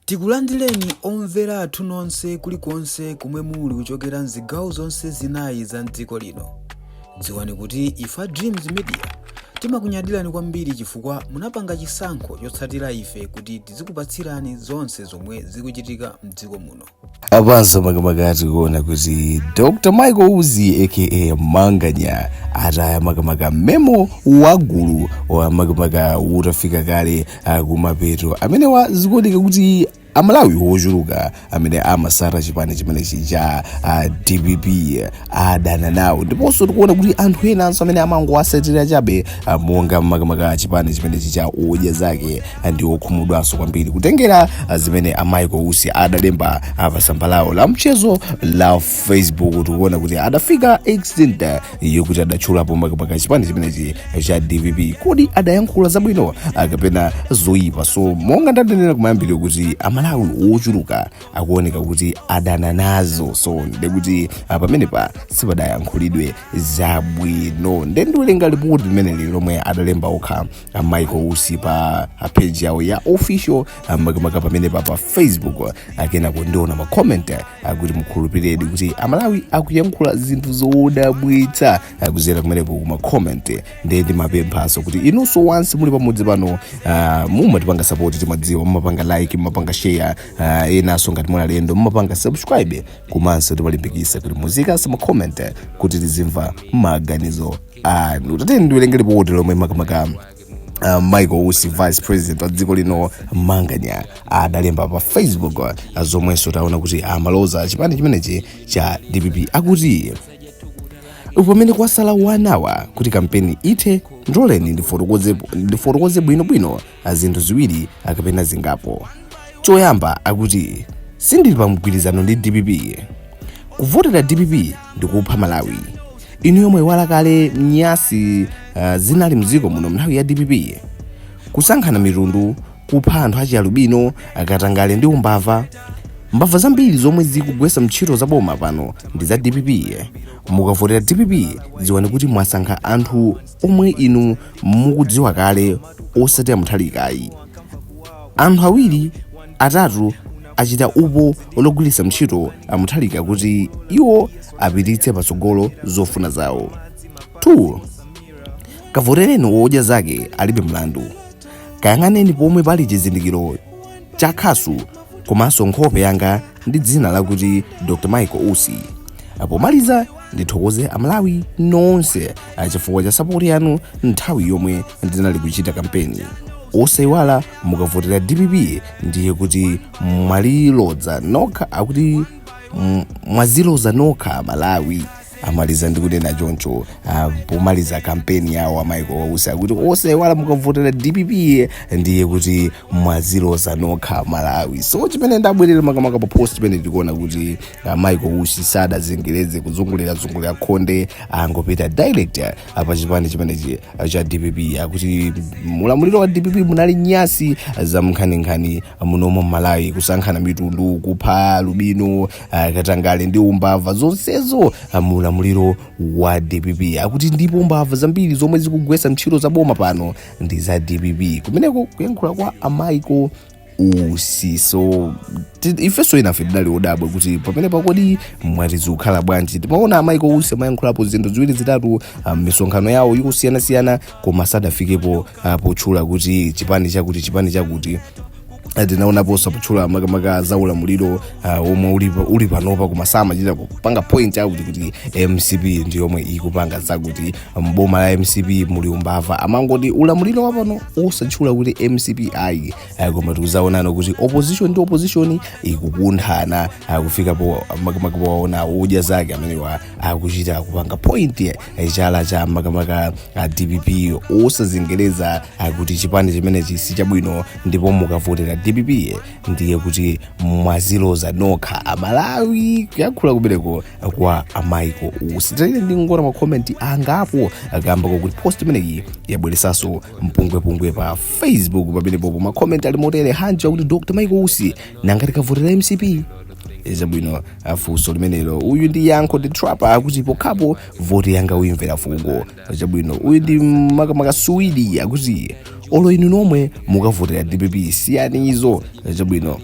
Tikulandireni omvera athu nonse kulikonse komwe muli kuchokera mzigawo zonse zinayi za mdziko lino. Dziwani kuti ife a Dreams Media timakunyadirani kwambiri chifukwa munapanga chisankho chotsatira ife kuti tizikupatsirani zonse zomwe zikuchitika mdziko muno. apanso makamaka tikuona kuti dr michael usi aka manganya ataya makamaka memo wagulu wa makamaka utafika kale ah, kumapeto amenewa zikuoneka kuti amalawi wochuluka amene amasata chipani chimenechi cha ah, dpp adana nawo ndiponso tikuona kuti anthu enanso amene amangowasatira chabe ah, monga makamaka achipani chimenechi cha odya zake ah, ndi okhumudwanso kwambiri kutengera ah, zimene a michael usi adalemba ah, pa tsamba lawo la mchezo la facebook tikuona kuti adafika extent ah, yokuti adatchulapo makamaka chipani chimenechi cha dpp kodi adayankhula zabwino ah, kapena zoyipa so monga ndadanena kumayambiriro kuti amalawi ochuluka akuoneka kuti adana nazo so nde kuti ah, pamenepa sipadayankhulidwe zabwino nde ndiwerenga lipoti limeneli lomwe adalemba okha ah, michael usi pa ah, page yawo ya official ah, makamaka pamenepa pa facebook ah, kenako ndiona macoment ah, kuti mukhulupiredi kuti amalawi akuyankhula zinthu zodabwitsa ah, kudzera kumeneko kumacoment nde ndimapemphanso kuti inunso nonse muli pamudzi pano ah, mumatipanga sapoti timadziwa mumapanga like mumapanga share uh, inunso ngati muli alendo mumapanga subscribe komanso timalimbikisa kuti muziikanso macoment kuti tizimva maganizo anu tateni ndiwerenge lipoti lomwe makamaka Uh, michael usi vice president wa dziko lino manganya adalemba pa facebook uh, zomwenso taona kuti amaloza chipani chimenechi cha dpp akuti pamene kwasala hour kuti kampeni ithe ndiloleni ndifotokoze bwinobwino pa zinthu ziwiri kapena zingapo choyamba akuti sindili pa mgwirizano ndi dpp kuvotera dpp ndi kupha malawi inuyo mwaiwala kale nyansi uh, zinali mdziko muno mnthawi ya dpp kusankhana mitundu kupha anthu achialubino katangale ndi umbava mbava zambiri zomwe zikugwesa ntchito za boma pano ndi za dpp mukavotera dpp dziwani kuti mwasankha anthu omwe inu mukudziwa kale osati a Mutharika ayi. Anthu awiri atatu achita upo wogwiritsa ntchito a Mutharika kuti iwo apititse patsogolo zofuna zawo. 2. Kavotereni wodya zake alibe mlandu. Kayang'aneni pomwe pali chizindikiro cha khasu komanso nkhope yanga ndi dzina lakuti dr michael usi pomaliza ndithokoze amalawi nonse achifukwa cha sapoti yanu nthawi yomwe ndinali kuchita kampeni osayiwala mukavotera dpp ndiye kuti mwazilodza nokha akuti mm, mwazilodza nokha amalawi amaliza ndi kunena choncho ah, pomaliza kampeni yawo a michael usi akuti osaiwala mukavotera dpp ndiye kuti mwazilodza nokha amalawi so chimene ndabwerera makamaka pa post imene ndikuona kuti ah, michael usi sadazengereze kuzungulirazungulira khonde angopita direct ah, pa chipani chimenechi ah, cha dpp akuti mulamuliro wa dpp munali nyasi zankhaninkhani muno mmalawi kusankhana mitundu kupha alubino katangale ndi umbava zonsezo mu ulamuliro wa dpp akuti ndipo mbava zambiri zomwe zikugwetsa ntchito za boma pano ndi za dpp kumeneko kuyankhula kwa a michael usi so ti- ifenso inafe tidali odabwa kuti pamene pa kodi mwati zikukhala bwanji timaona a michael usi amayankhulapo zinthu ziwiri zitatu ah, mmisonkhano yawo yosiyanasiyana koma sadafikepo ah, potchula kuti chipani chakuti chipani chakuti Ah, tinaonaponso potchula makamaka za ulamuliro ah, omwe uli pa- uli panopa koma samachita kupanga point out kuti mcp ndi yomwe ikupanga zakuti mboma la mcp muli umbava amangoti ulamuliro wapano osatchula kuti mcp ayi ah, koma tikuzaona kuti opposition ndi opposition ikukunthana ah, kufikapo makamaka powaona kudya anzake amenewa akuchita kupanga point chala cha makamaka a dpp osazengereza kuti chipani chimenechi si chabwino ndipo mukavotera dpp ndiye kuti mwazilodza nokha amalawi kuyankhula kubereko kwa a michael usi taleni ndingoona makomenti angapo kamba kakuti post imeneyi yabweresanso mpungwepungwe pa facebook pamenepopo makomenti ali motere hanji akuti dr michael usi nanga tikavotera mcp chabwino afunsa limenelo uyu ndi yankho ndi trapa akuti pokhapo voti yanga uimvera fungo chabwino uyu ndi makamaka suwidi akuti olo inu nomwe mukavotera dpp siyani izo chabwino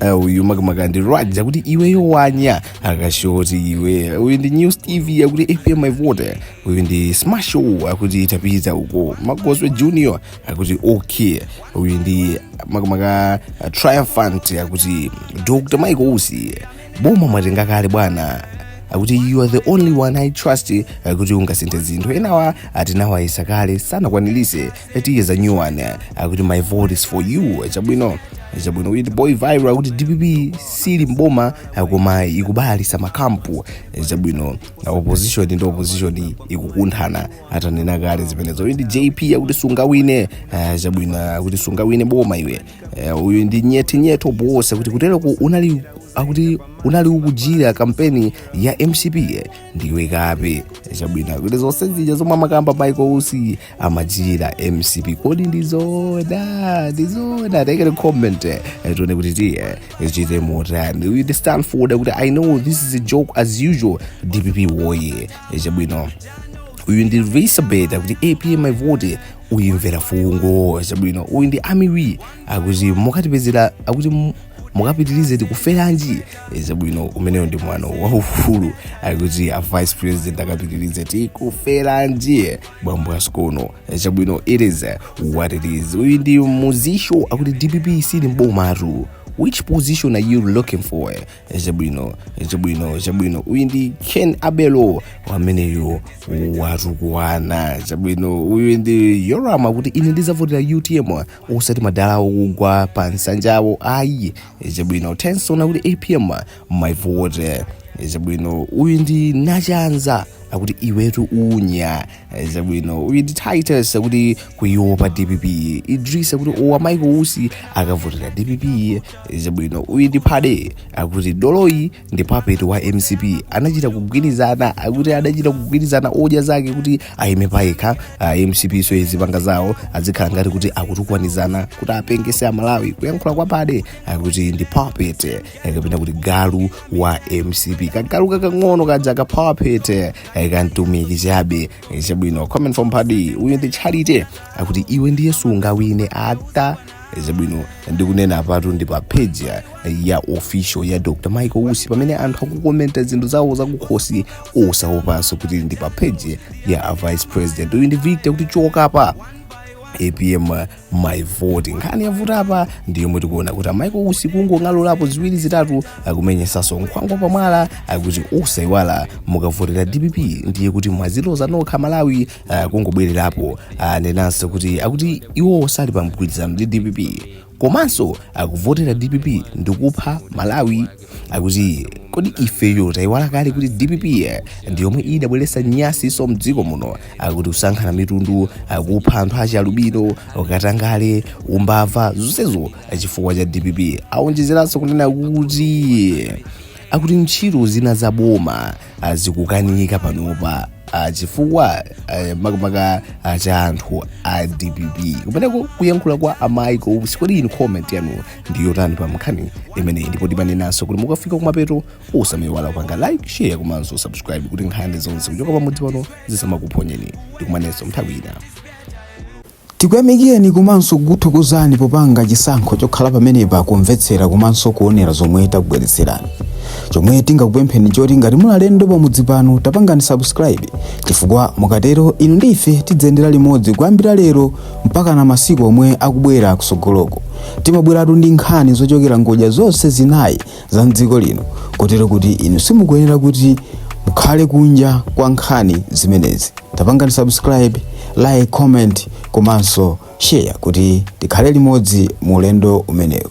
Eh, uyu makamaka ndi raj akuti iweyo wanya akashoti iwe uyu ndi new steve akuti apm my vote uyu ndi smasho akuti tapita uko magoswe junior akuti okay uyu ndi makamaka uh, triumphant akuti dr mike usi boma mwatenga kale bwana akuti you are the only one i trust uh, kuti ungasinthe zinthu enawa tinawayesa kale sanakwanilise tiye zanu akuti my vote is for you chabwino chabwino uyu ndi boy viral akuti dpp sili mboma uh, koma ikubalalitsa makampu chabwino uh, opposition ndi opposition ikukunthana atanena kale zimenezo uyu ndi jp akuti sungawine chabwino akuti sungawine boma iwe Eh, uyu ndi nyete nyete oboosa kuti kutereko unali akuti unali ukuchitira kampeni ya mcp eh, ndiwe kape Eh, chabwino akuti zonse zija zomwe amakamba michael usi amachitira mcp kodi ndizoona ndizoona take a comment eh, tione kuti tiichite motani uyu ndi stanford akuti i know this is a joke as usual dpp woye chabwino uyu ndi elizabeth akuti apm my vote uimvera fungo chabwino uyu ndi amiwi akuti mukapitirize akuti mu- mukapitirize tikuferanji chabwino ameneyo ndi mwana waufulu akuti a vice president akapitirize tikuferanji bambo asikono chabwino it is what it is uyu ndi muzisho akuti dpp sili mbomatu which position are you looking for chabwino chabwino chabwino uyu ndi ken abelo ameneyo watukwana chabwino uyu ndi yoram akuti ine ndizavotera utm osati madala okugwa pa nsanjawo ayi chabwino tenson akuti apm my vote chabwino uyu ndi nachanza akuti iwetu unya chabwino uyu ndi titus akuti kuiopa dpp idris akuti owo a michael usi akavotera dpp chabwino uyu ndi padi akuti doloyu ndi puppet wa mcp anachita kugwirizana akuti adachita kugwirizana odya zake kuti aime payekha ah, mcp so azipanga zawo azikhala ngati kuti akutukwanizana kuti apengetse amalawi kuyankhula kwa padi akuti ndi puppet kapena kuti galu wa mcp kagalu kakang'ono kaja ka puppet kamtumiki chabe chabwino comment from padi uyu ndi charity akuti iwe ndiye sungawine ata chabwino ndikunena apatu ndi pa page ya- ya official ya dr michael usi pamene anthu akukomenta zinthu zawo zakukhosi osaopanso kuti ndi pa page ya a vice president uyu ndi victor akuti choka apa apm my vote nkhani yavuta apa ndi yomwe tikuona kuti a michael usi kungong'alulapo ziwiri zitatu akumenyetsanso nkhwangwa pamwala akuti osaiwala mukavotera dpp ndiye kuti mwaziloza nokha malawi ah, kungobwererapo anenanso kuti akuti iwo sali pa mgwirizano ndi dpp komanso kuvotera dpp ndikupha malawi akuti kodi ifeyo tayiwala kale kuti dpp ndi yomwe idabweretsa nyansinso mdziko muno akuti kusankhana mitundu kupha anthu achalubino ukatangale umbava zonsezo chifukwa cha dpp awonjezeranso kunena kuti akuti ntchito zina za boma ah, zikukanika panopa ah, chifukwa eh, makamaka ah, cha anthu a dpp kumeneko kuyankhula kwa a michael usi kodi inu comment yanu ndi yotani pa mkhani imeneyi ndipo timanenanso kuti mukafika kumapeto osamaiwala kupanga like share komanso subscribe kuti nkhani zonse kuchoka pamudzi pano zisamakuphonyeni tikumanenso nthawi ina tikuyamikireni komanso kukuthokozani popanga chisankho chokhala pamenepa kumvetsera komanso kuonera zomwe takubweretserani chomwe tingakupempheni choti ngati muli alendo pamudzi pano tapangani subscribe chifukwa mukatero inu ndi ife tidziyendera limodzi kuyambira lero mpakana masiku omwe akubwera kusogoloko timabweratu ndi nkhani zochokera ngodya zonse zinayi za mdziko lino kotero kuti inu simukuyenera kuti mukhale kunja kwa nkhani zimenezi tapangani subscribe like comment komanso share kuti tikhale limodzi mu ulendo umenewu